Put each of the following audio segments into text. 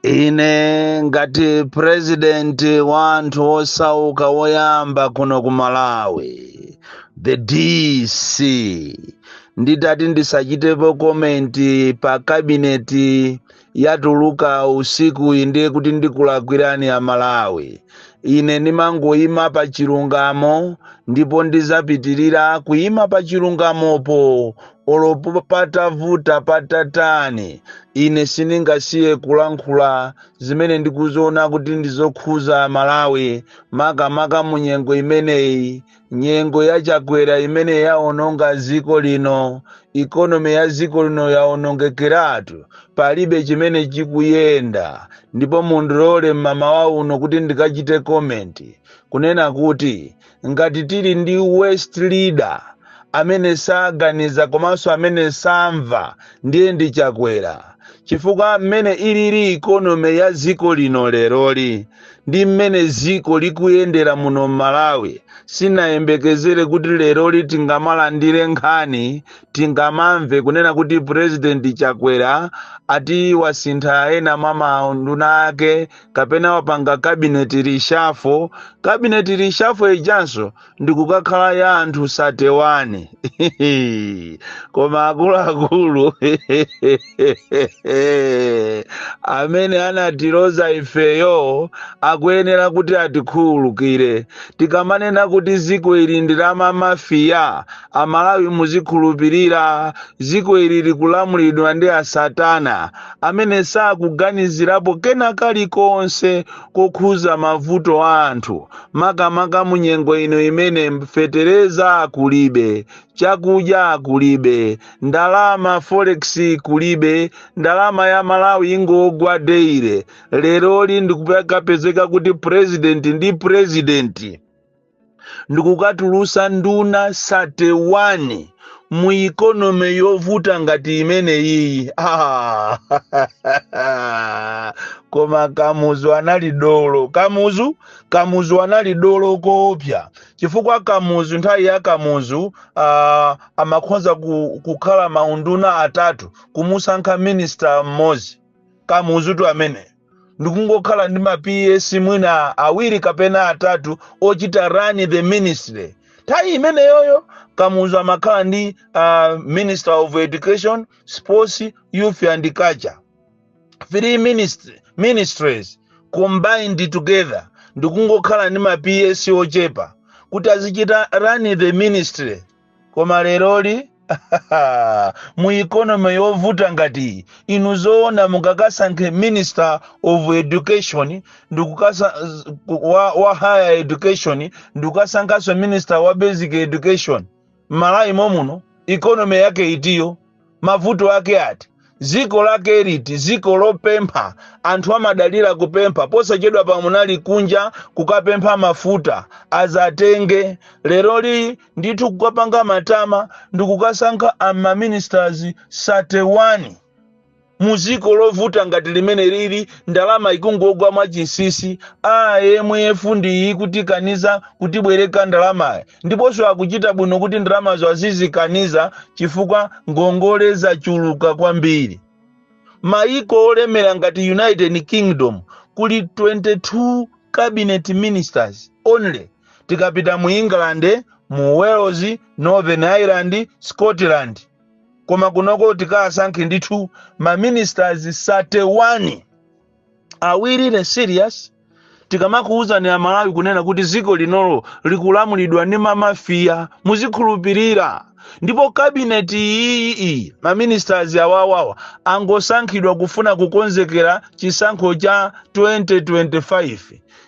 ine ngati purezidenti wa anthu osauka woyamba kuno ku malawi the dc nditati ndisachitepo komenti pa kabineti yatuluka usikuyi ndiye kuti ndikulakwirani a malawi ine ndimangoyima pa chilungamo ndipo ndidzapitirira kuyima pa chilungamopo olo patavuta patatani ine sindingasiye kulankhula zimene ndikuziona kuti ndizokhuza malawi makamaka mu nyengo imeneyi nyengo ya chakwera imene yaononga dziko lino ikonomi ya dziko lino yaonongekeratu palibe chimene chikuyenda ndipo mundilole mmamawa uno kuti ndikachite komenti kunena kuti ngati tili ndi worst leader amene saganiza komanso amene samva ndiye ndi chakwera chifukwa mmene ilili ikonomi ya dziko lino leroli ndi mmene dziko likuyendera muno m'malawi sinayembekezere kuti leroli tingamalandire nkhani tingamamve kunena kuti purezidenti chakwera ati wasintha ena mwa maunduna ake kapena wapanga kabineti reshuffle kabineti reshuffle ijanso ndikukakhala ya anthu 31 koma akuluakulu amene anatiloza ifeyo akuyenera kuti atikhululukire tikamanena kuti dziko ili ndi la mamafiya amalawi muzikhulupirira dziko ili likulamulidwa ndi asatana amene sakuganizirapo kena kalikonse kokhuza mavuto a anthu makamaka munyengo ino imene fetereza kulibe chakudya kulibe ndalama forex kulibe ndalama ya malawi ingogwa daily leroli ndikupezeka kuti president ndi president ndikukatulutsa nduna 31 mu ikonomi yovuta ngati imeneyiyi ah. koma kamuzu anali dolo kamuzu kamuzu anali dolo koopsa chifukwa kamuzu nthawi ya kamuzu ah, amakhonza kukhala maunduna atatu kumusankha minista mmodzi kamuzutu amene ndikungokhala ndi ma ps mwina awiri kapena atatu ochita run the ministry nthawi imeneyoyo kamuzu amakhala ndi uh, minister of education sports youth and culture three ministries combined together ndikungokhala ndi ma ps ochepa kuti azichita run the ministry koma leroli mu economy yovuta ngati iyi, inu zoona mungakasankhe minister of education ndikukasankha wa, wa higher education ndikukasankhanso minister wa basic education mmalawi momuno economy yake itiyo mavuto ake ati ziko lake liti ziko lopempha anthu amadalira kupempha posachedwapa munali kunja kukapempha mafuta azatenge leroli ndithu kukapanga matama ndikukasankha amaministers 31 mu dziko lovuta ngati limene lili ndalama ikungogwa mwachinsinsi a IMF ndiyi ikutikaniza kutibwereka ndalamayi ndiponso akuchita bwino kuti ndalamazo azizikaniza chifukwa ngongole zachuluka kwambiri mayiko olemera ngati united kingdom kuli 22 cabinet ministers only tikapita mu england mu wales northern ireland scotland koma kunoko tikasankhe ndithu ma ministers 31 are we really serious tikamakuwuzani amalawi kunena kuti ziko linolo likulamulidwa ndi mamafia muzikhulupirira ndipo cabinet iyi iyi maministers awawawa angosankhidwa kufuna kukonzekera chisankho cha 2025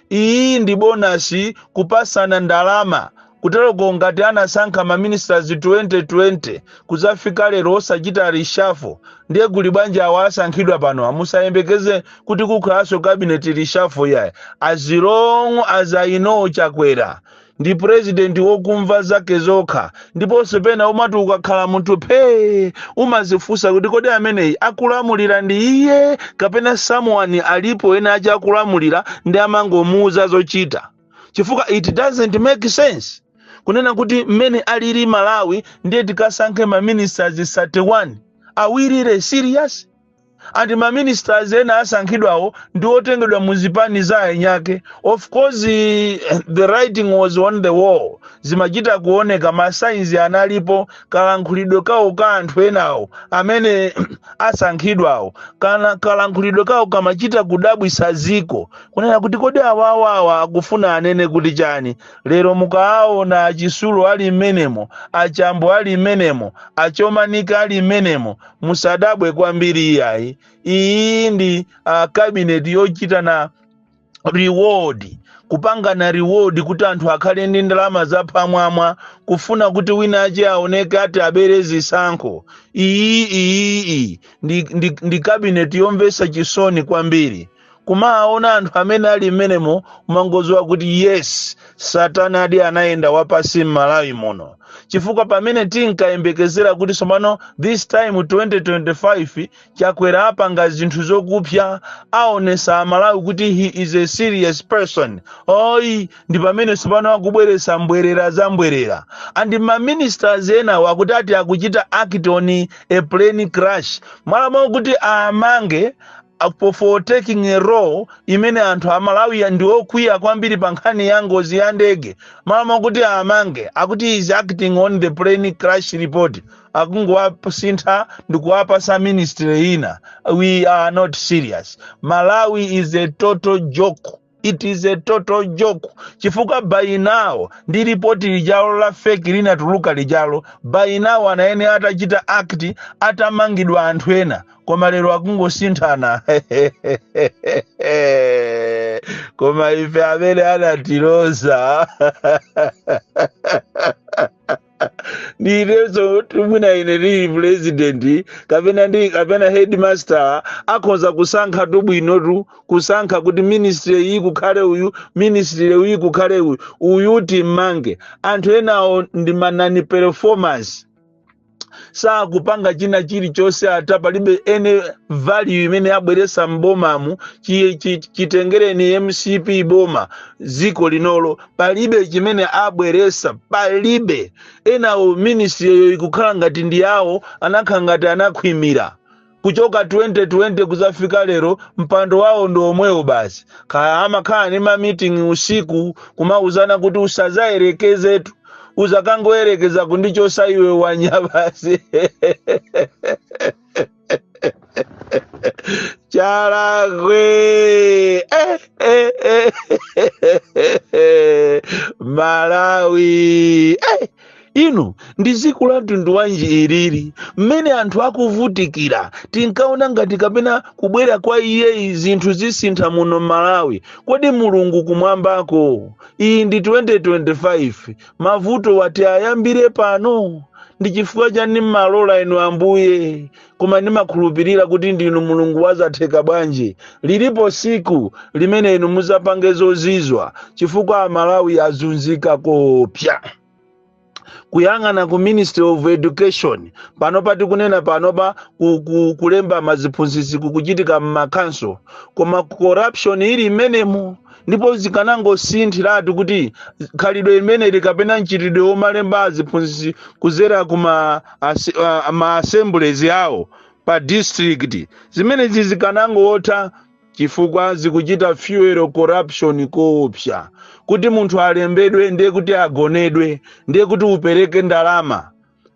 iyi ndi bonus kupasana ndalama kuteroko ngati anasankha maministers 2020 kuzafika lero osachita reshuffle ndiye kuli bwanji awo asankhidwa panowa musayembekeze kuti kukhalanso cabinet reshuffle yayi as long as i know chakwera ndi president wokumva zake zokha ndiponso pena umati ukakhala munthu phee umazifunsa kuti kodi ameneyi akulamulira ndi iye kapena someone alipo ena ache akulamulira ndi amangomuuza zochita chifukwa it doesn't make sense kunena kuti mmene alili malawi ndiye tikasankhe maministers 31 are we really serious and maministers ena asankhidwawo ndi otengedwa mu zipani za anyake of course eh, the writing was on the wall zimachita kuoneka masigns analipo kalankhulidwe kawo ka anthu enawo amene asankhidwawo kana kalankhulidwe kawo kamachita kudabwisa ziko kunena kuti kodi awawawa akufuna anene kuti chani lero mukaawona a Chitsulo ali mmenemo a Chambo ali mmenemo a Chomanika ali mmenemo musadabwe kwambiri iyayi iyi ndi uh, cabinet yochitana reward kupangana reward kuti anthu akhale ndi ndalama zapamwamba kufuna kuti wina ache aoneke ati abere zisankho iyi iyiyi ndi, ndi, ndi kabineti yomvesa chisoni kwambiri kumaona anthu amene ali mmenemo umangoziwa kuti yes satana adi anayenda wapansi m'malawi muno chifukwa pamene tinkayembekezera kuti tsopano this time 2025 chakwera apanga zinthu zokupsa aonesa amalawi kuti he is a serious person oyi ndi pamene tsopano akubweresa mbwerera za mbwerera and ma ministers enawo akuti ati akuchita act on a plane crash mmalo mwakuti awamange apo for taking a role mmene anthu amalawi wa ndi okwiya kwambiri pa nkhani ya ngozi ya ndege mmalo mwakuti awamange akuti is acting on the plane crash report akungowasintha ndikuwapasa ministry ina we are not serious malawi is a total joke it is a total joke chifukwa by now ndi ripoti lijalo la fake linatuluka lijalo by now anayenera atachita act atamangidwa anthu ena koma lero akungosinthana koma ife amene anatiloza ndi ine sotu mwina ine ndili president kapena ndi kapena headmaster akhoza kusankha tu bwino tu kusankha kuti ministry iyi kukhale uyu ministry iyi kukhale uyu uyu timmange anthu enawo ndi ma non performers sakupanga china chilichonse ata palibe ene value imene abweresa m'bomamu chi- chi- chitengereni mcp boma dziko linolo palibe chimene abweresa palibe enawo ministriyo ikukhala ngati ndi yawo anakhala ngati anakhwimira kuchoka 2020 kuzafika lero mpando wawo ndi omwewo basi kaya amakhala ni mamitingi usiku kumauzana kuti usazayerekezetu uzakangoyerekeza kundichosa iwe wanya basi Chalakwe. Eh, eh, eh, eh, eh. Malawi. Eh. inu ndi dziko la mtundu wanji ilili mmene anthu akuvutikira tinkaona ngati kapena kubwera kwa iyeyi zinthu zisintha muno malawi kodi mulungu kumwambako iyi ndi 2025 mavuto oti ayambire pano ndi chifukwa chani mmalola inu ambuye koma ndimakhulupirira kuti ndinu mulungu wazatheka bwanji lilipo siku limene inu muzapange zozizwa chifukwa amalawi azunzika koopsya kuyang'ana ku ministry of education panopa tikunena panopa ku, ku, kulemba maziphunzitsi kukuchitika mmakhanso koma corruption ili imenemo ndipo zikanangosinthiratu kuti khalidwe limeneli kapena mchitidwe womalemba aziphunzitsi kuzera ku ma ase- a- ma assemblies awo pa district zimenezi zikanangotha chifukwa zikuchita fuel corruption koopsa kuti munthu alembedwe ndiye kuti agonedwe ndiye kuti upereke ndalama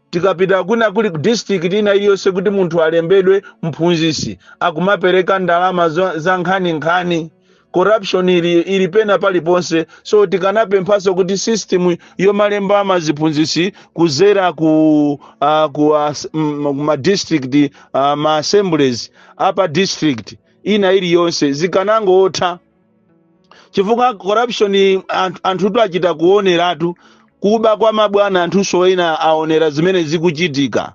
tikapita kuna kuli district ina iliyonse kuti munthu alembedwe mphunzitsi akumapereka ndalama za za nkhaninkhani corruption ili, ili pena paliponse so tikanapemphanso kuti system yomalemba maziphunzitsi kuzera ku uh, ku uh, ma district uh, ma assemblies a pa district ina iliyonse zikanangotha chifukwa corruption anthu anthutu achita kuoneratu kuba kwa mabwana anthunso ena aonera zimene zikuchitika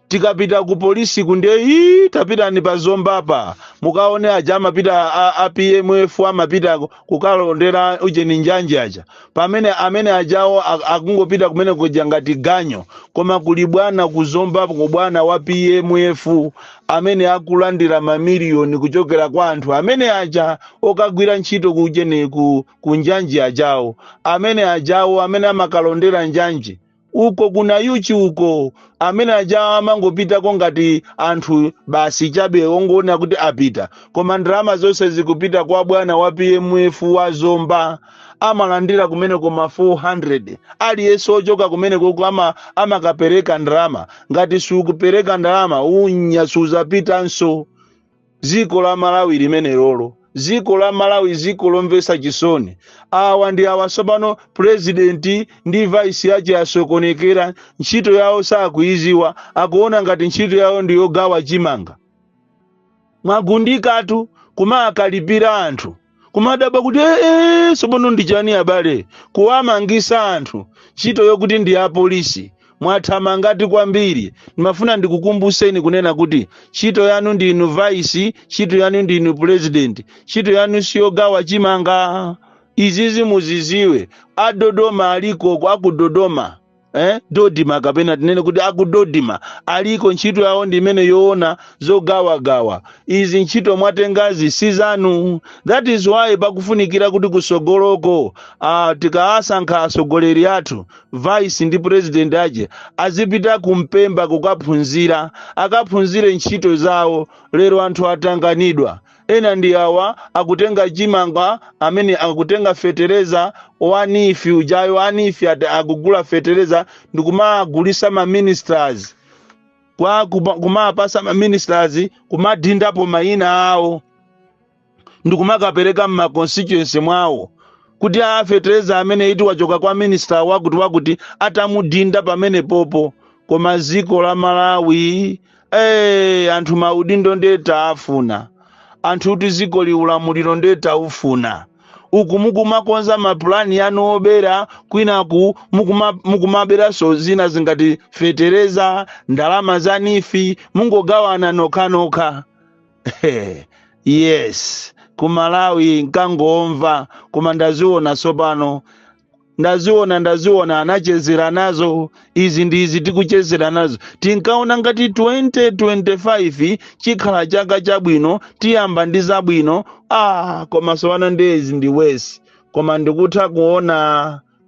tikapita ku polisi kunde ii tapitani pa zombapa mukaone aja amapita a, a pmf amapita kukalondera ujeni njanji aja pamene amene ajawo ak- akungopita kumene kuja ngati ganyu koma kuli bwana ku zombako bwana wa pmf amene akulandira mamiliyoni kuchokera kwa anthu amene aja okagwira ntchito ku ujeni ku, ku njanji ajawo amene ajawo amene amakalondera njanji uko ku nayuchi uko amene aja amangopitako ngati anthu basi chabe ongoona kuti apita koma ndalama zonse zikupita kwa bwana wa pmf wa zomba amalandira kumene koma 400 aliyense ochoka kumenekoko ama, amakapereka ndalama ngati siukupereka ndalama unyaa suzapitanso dziko la malawi limenelolo dziko la malawi dziko lomvetsa chisoni awa ndi awa tsopano purezidenti ndi vaisi wache asokonekera ntchito yawo sakuiziwa akuona ngati ntchito yawo ndi yogawa chimanga mwagundika kumakalipira anthu kumadabwa kuti ee tsopano ndi chani abale kuwamangisa anthu ntchito yokuti ndi ya polisi mwathamangatu kwambiri ndimafuna ndikukumbuseni kunena kuti ntchito yanu ndinu vice ntchito yanu ndinu president ntchito yanu siyogawa chimanga izizi muziziwe adodoma alikoko akudodoma eh, dodima kapena tinene kuti akudodima aliko ntchito yawo ndi imene yoona zogawagawa izi ntchito mwatengazi si zanu that is why pakufunikira kuti kusogoloko uh, tikawasankha atsogoleri athu vice ndi president ache azipita kumpemba kukaphunzira akaphunzire ntchito zawo lero anthu atanganidwa ena ndi awa akutenga chimanga amene akutenga fetereza wa NEEF ujayo a NEEF akugula fetereza ndikumagulisa ma ministers kwa kuma- kumapasa ma ministers kumadindapo mayina awo ndikumakapereka mma constituency mwawo kuti aa fetereza amene ati wachoka kwa minister wakuti wakuti atamudinda pamene pompo koma ziko la malawi Hey, anthu maudindo nde tawafuna anthu kuti dziko ili ulamuliro nde taufuna uku mukumakonza mapulani anu obera kwinaku mukuma- mukumaberanso zina zingati fetereza ndalama za NEEF mungogawana nokhanokha He, yes ku malawi nkangomva koma ndaziona tsopano ndaziona ndaziona anachezera nazo izi ndi izi tikuchezera nazo tinkaona ngati 2025 chikhala chaka chabwino tiyamba ndi zabwino ah koma sopano nde izi ndi worse koma ndikutha kuona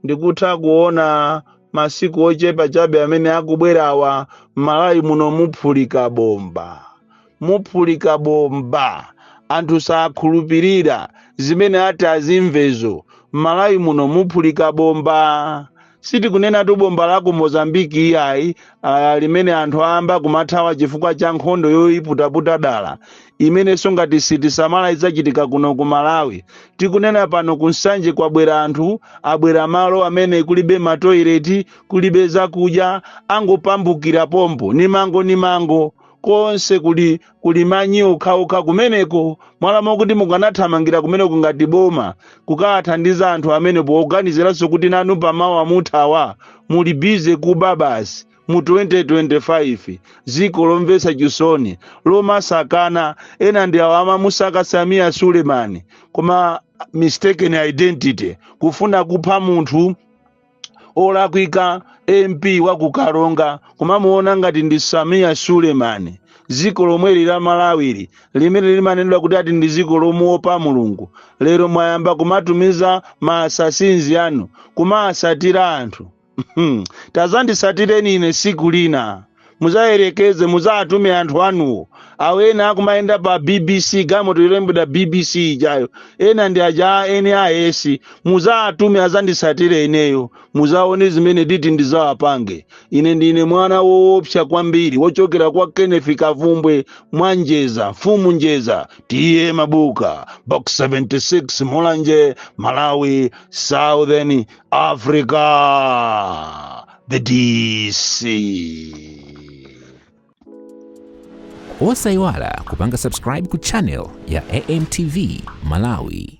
ndikutha kuona masiku ochepa chabe amene akubwerawa m'Malawi muno muphulika bomba muphulika bomba anthu sakhulupirira zimene ati azimvezo m'Malawi muno muphulika bomba sitikunenatu bomba la ku Mozambique iyayi ah, limene anthu ayamba kumathawa chifukwa cha nkhondo yoiputaputa dala imenenso ngati sitisamala idzachitika kuno ku Malawi tikunena pano ku Nsanje kwabwera anthu abwera malo amene kulibe matoileti kulibe zakudya angopambukira pompo ni mango ni mango konse kuli kuli manyi okhaokha kumeneko m'malo mokuti mukanathamangira kumeneko ngati boma kukawathandiza anthu amene poganiziranso kuti nanu pamawa muthawa muli busy kuba basi mu 2025 dziko lomvetsa chisoni lomasakana ena ndi awo amamusaka Sameer Suleman koma mistaken identity kufuna kupha munthu olakwika MP wa ku Karonga kumamuona ngati ndi Sameer Suleman dziko lomweli la Malawili limene limanenedwa kuti ati ndi dziko lomuopa Mulungu lero mwayamba kumatumiza ma assassins anu kumaasatira anthu tadzandisatireni ine siku lina muzayerekeze muzatume anthu anuwo awo ena akumayenda pa bbc galimoto yolembedwa bbc ijayo ena ndi aja a nis muzatume azanditsatire ineyo muzaone zimene nditi ndizawapange ine ndine mwana woopsa kwambiri wochokera kwa kenneth kavumbwe mwa njeza mfumu njeza TA mabuka box 76 mulanje malawi southern africa the DC. osayiwala kupanga subscribe ku channel ya amtv malawi